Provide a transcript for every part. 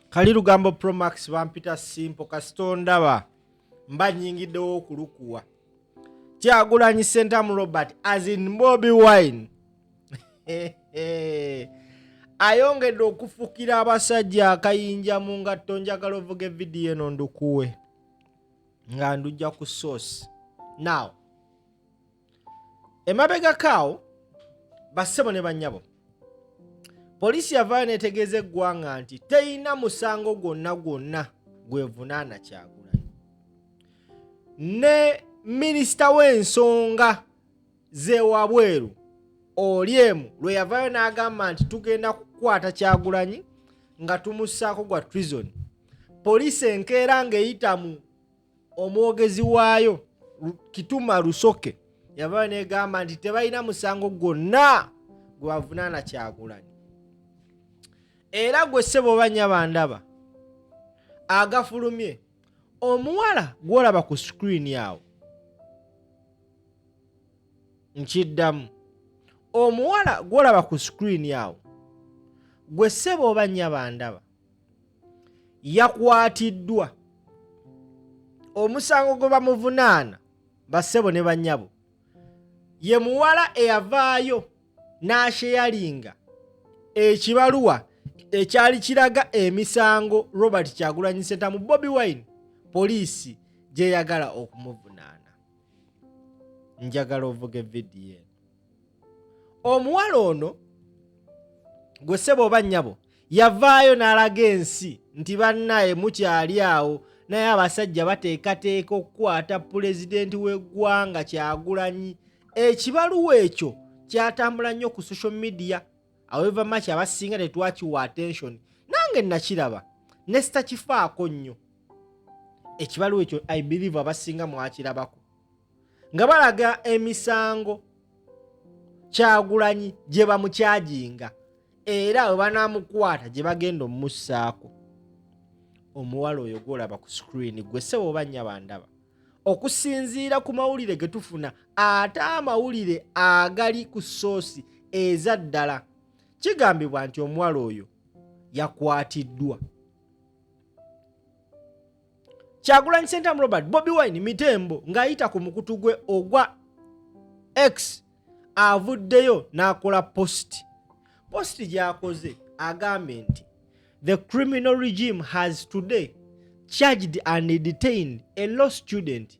kali lugambo promax bampita simpo kasita ondaba mba nyingiddewo okulukuwa kyagulanyi sentamu robert as in bobi wine ayongedde okufukira abasajja akayinja mu ngatto njagala ovuga evidiyo eno ndukuwe nga ndujja ku source now emabegako awo bassebo ne bannyabo poliisi yavaayo netegeeza eggwanga nti teyina musango gwonna gwonna gwevunaana kyagulanyi ne minisita w'ensonga zewabweru olyemu lwe yavaayo n'agamba nti tugenda kukwata kyagulanyi nga tumussaako gwa trizoni poliisi enkeera ng'eyita mu omwogezi waayo kituma lusoke yavaayo negamba nti tebalina musango gwonna gwe bavunaana kyagulanyi era gwe ssebo oba nyabandaba agafulumye omuwala gwolaba ku sikrini awo nkiddamu omuwala gwolaba ku sikrini awo gwe ssebo oba nyabandaba yakwatiddwa omusango gwe bamuvunaana bassebo ne bannyabo ye muwala eyavaayo n'asheyalinga ekibaluwa ekyali kiraga emisango robert kyagulanyi sentamu bobi wine poliisi gyeyagala okumuvunaana njagala ovuga evidiyo eno omuwala ono gwe ssebo oba nnyabo yavaayo n'alaga ensi nti bannaye mukyali awo naye abasajja bateekateeka okukwata pulezidenti w'eggwanga kyagulanyi ekibaluwa ekyo kyatambula nnyo ku social media aweva maki abasinga tetwakiwa attention nange nakiraba nesitakifaako nnyo ekibaluwa ekyo i believe abasinga mwakirabako nga balaga emisango kyagulanyi gye bamukyajinga era we banaamukwata gye bagenda omumussaako omuwala oyo gwolaba ku sikuriini gwe sebo oba nyaba ndaba okusinziira ku mawulire ge tufuna ate amawulire agali ku soosi eza ddala kigambibwa nti omuwala oyo yakwatiddwa kyagulanyi sentamu robert bobi wine mitembo ng'ayita ku mukutu gwe ogwa x avuddeyo n'akola positi positi gyakoze agambye nti the criminal regime has today charged and detained a law student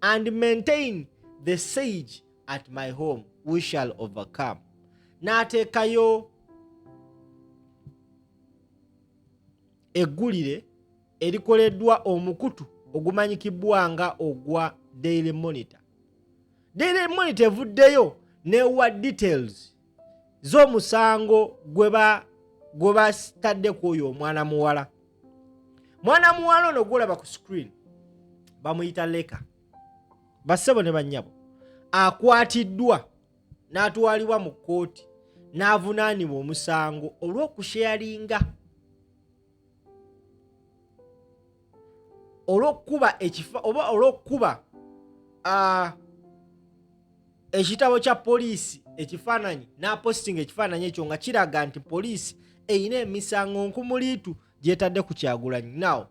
and maintain the sage at my home we shall overcome n'ateekayo eggulire erikoleddwa omukutu ogumanyikibwa nga ogwa daily monitor daily monitor evuddeyo newa details zo omusango gwe batadde ku oyo omwana muwala mwana muwala ono gwolaba ku screen bamuyita leka bassebo ne bannyabo akwatiddwa n'atwalibwa mu kkooti n'avunaanibwa omusango olw'okusheyalinga olw'okukuba ekifa oba olw'okukuba ekitabo kya poliisi ekifaananyi n'apostinga ekifaananyi ekyo nga kiraga nti poliisi erina emisango nkumuliitu gyetadde ku kyagulanyi naw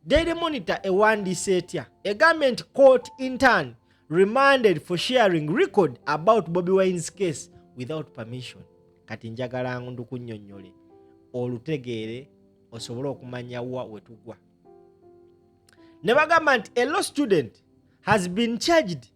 Daily Monitor ewandiise etya egambye nti court intern remanded for sharing record about Bobi Wine's case without permission. Kati njagala ndu kunyonyole olutegeere osobole okumanya wa wetugwa. Ne bagamba nti a law student has been charged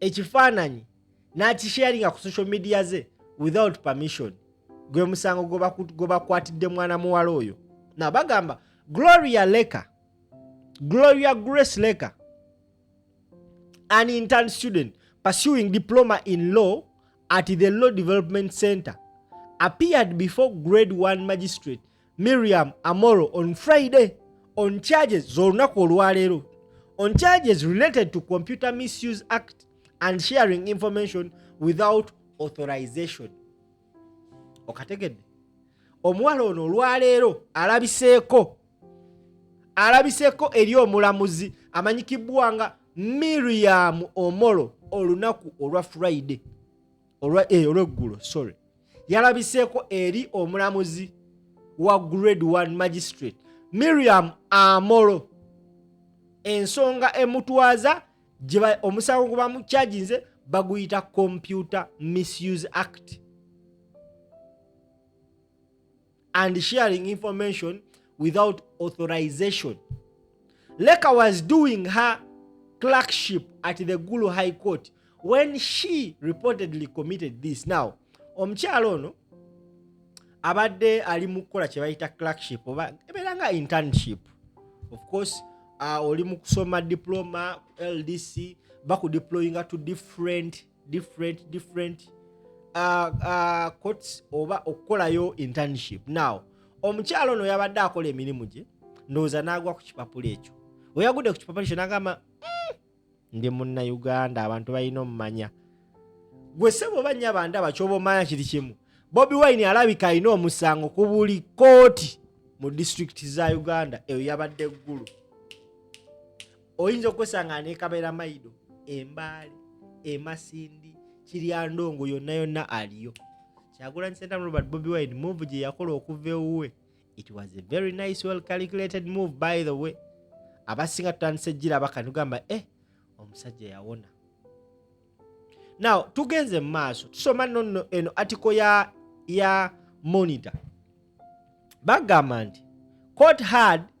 ekifaananyi n'akisharinga ku social media ze without permission gwe musango gwe bakwatidde mwana muwala oyo na bagamba gloria leka gloria grace leka an intern student pursuing diploma in law at the law development center appeared before grade 1 magistrate Miriam Amoro on Friday on charges z'olunaku olwaleero on charges related to Computer Misuse Act and sharing information without authorization. Okategedde omuwala ono olwaleero alabiseeko alabiseeko eri omulamuzi amanyikibbwa nga Miriam Omoro olunaku olwa Friday. eh, olweggulo sorry yalabiseeko eri omulamuzi wa grade 1 magistrate miriam amolo ensonga emutwaza omusango gwe bamukyaginze baguyita computer misuse act and sharing information without authorization. Leka was doing her clerkship at the Gulu High Court when she reportedly committed this. Now, omukyala ono abadde ali mu kukola kye bayita clerkship oba ebeera nga internship of course uh, oli mu kusoma diploma ldc bakudeployinga to different different different uh, uh, courts oba okukolayo internship now omukyalo ono yabadde akola emirimu gye ndowooza n'agwa ku kipapula ekyo weyagudde ku kipapula ekyo nagamba mm, ndi munna uganda abantu balina omumanya gwe sebo oba nnya bandaba kyoba omanya kiri kimu bobi wine alabika alina omusango ku buli kooti mu disitulikiti za uganda eyo yabadde eggulu oyinza okwesanga nekabera maido embaale emasindi kiryandongo yonna yonna aliyo kyagulanyi sentamu robert bobi wine move gye yakola okuva ewuwe it was a very nice well calculated move by the way abasinga tutandise ejjira abakanugamba eh omusajja yawona now tugenze mu maaso tusoma nono eno atiko ya ya monitor bagamba nti court had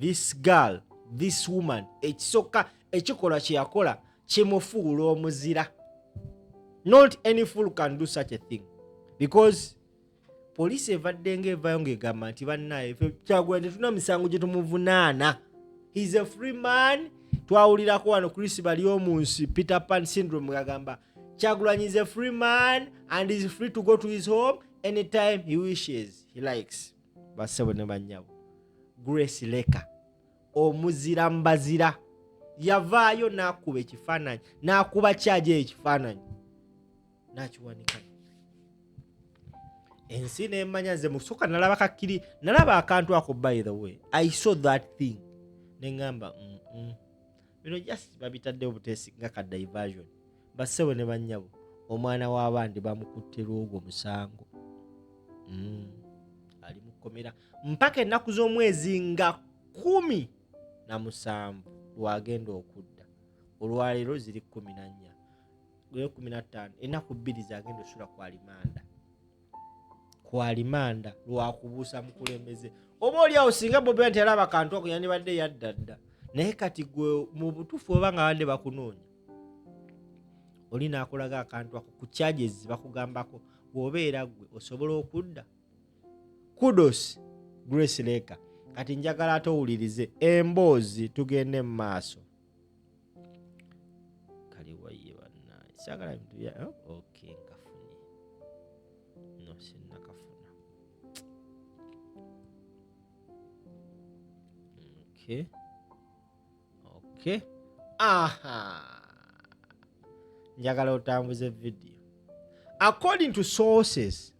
this girl this woman ekisooka ekikolwa kyeyakola kimufuula omuzira not any fool can do such a thing because poliisi evadde nga evayo ngaegamba nti bannaye kyagula tetulina misango gye tumuvunaana heis a free man twawulirako wano chris bali omu nsi peter pan syndrome agamba kyagulanyi is a free man and is free to go to his home anytime he wishes he likes bassebo ne bannyabo grace leka omuzira mbazira yavaayo n'akuba ekifaananyi n'akuba kyaja ekifaananyi n'akiwanika ensi nemanya nze musoka nalaba kakiri nalaba akantu ako by the way i saw that thing neŋamba mm -mm. bino just babitaddewo butesi nga ka diversion bassebo ne bannyabo omwana w'abandi bamukutte lwogwo musango mm. ali mu kkomera mpaka ennaku z'omwezi nga kumi na musanvu lwagenda okudda olwaleero ziri kumi na nnya gweyo kumi na ttaano ennaku bbiri zagenda osula ku alimanda kwalimanda lwakubuusa mukulembeze oba oliawo singa bobi nti alaba kantu ako yandibadde yadda dda naye kati gwe mu butuufu oba nga bande bakunoonya oli nakulaga akantu ako ku charges bakugambako wobeera gwe osobola okudda kudos grace leka kati njagala ate owulirize emboozi tugende mu maaso kali waye bannange saagala bintu bya eh, ok nkafunye no sinnakafuna ok ok aha njagala otambuze vidiyo according to sources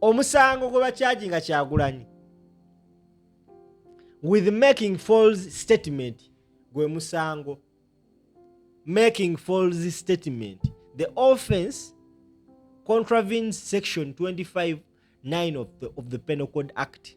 omusango gwe bakyaji nga kyagulanyi with making falls statement gwe musango making falls statement the offense contravenes section 25 9 of the, of the penal code act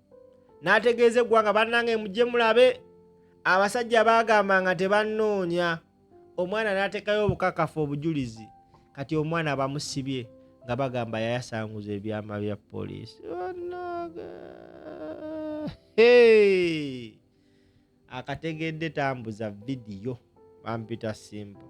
n'ategeeza eggwanga bannange mujje mulabe abasajja baagamba nga tebannoonya omwana n'ateekayo obukakafu obujulizi kati omwana bamusibye nga bagamba yayasanguza ebyama bya poliisi akategedde tambuza vidiyo bampita simple